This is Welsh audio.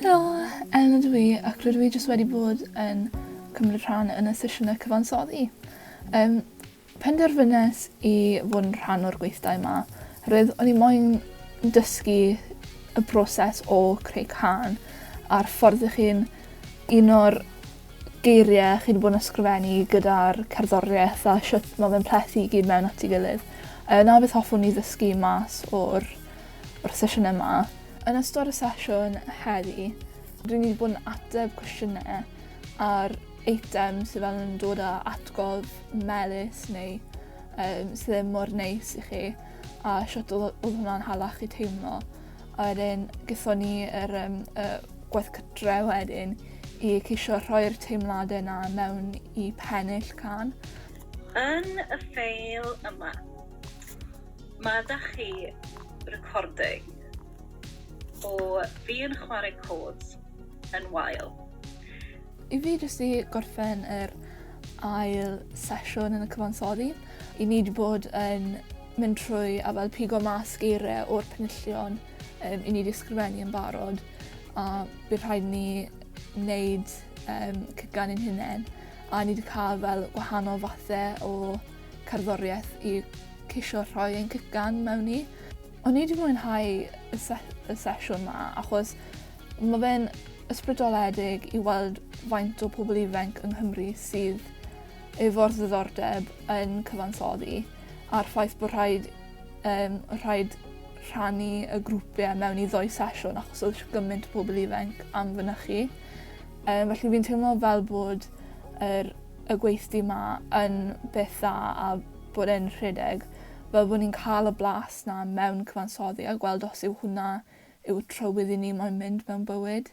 Helo, Ellen ydw i ac rydw i jyst wedi bod yn cymryd rhan yn y sesiynau cyfansoddi. Um, penderfynes i fod yn rhan o'r gweithdai yma, rydw o'n i moyn dysgu y broses o creu can a'r ffordd ych chi'n un o'r geirie chi 'di bod yn ysgrifennu gyda'r cerddorieth a shwt ma' fe'n plethu i gyd mewn at 'i gilydd. Yy 'na beth hoffwn i ddysgu mas o'r o'r sesiyne 'ma. Yn ystod y sesiwn heddi dwi myn' i bod yn ateb cwestiyne ar eitem sy fel yn dod â atgof melys neu yym sy ddim mor neis i chi a shwt odd o- odd hwnna'n hala chi teimlo. A wedyn gethon ni yr yym y gwaith cytre wedyn i ceisio rhoi'r teimlade 'na mewn i pennill cân. Yn y ffeil yma, ma' 'da chi recording o fi yn chware cords yn wael. I fi jyst i gorffen yr ail sesiwn yn y cyfansoddi, 'yn ni 'di bod yn mynd trwy a fel pigo mas geire o'r penillion um, i ni wedi ysgrifennu yn barod a bydd rhaid ni wneud um, cygan ein hunain a ni wedi cael fel gwahanol fathau o cerddoriaeth i ceisio rhoi ein cygan mewn i. O'n i wedi mwynhau y, se y sesiwn ma achos mae fe'n ysbrydoledig i weld faint o pobl ifanc yng Nghymru sydd efo'r ddiddordeb yn cyfansoddi a'r ffaith bod rhaid yym rhaid rhannu y grwpie mewn i ddou sesiwn achos odd sh- gyment o pobol ifanc am fynychu. Yym felly fi'n teimlo fel bod yr y gweithdy 'ma yn beth dda a bod e'n rhedeg fel bo' ni'n ca'l y blas 'na mewn cyfansoddi a gweld os yw hwnna yw'r trywydd i ni moyn mynd mewn bywyd.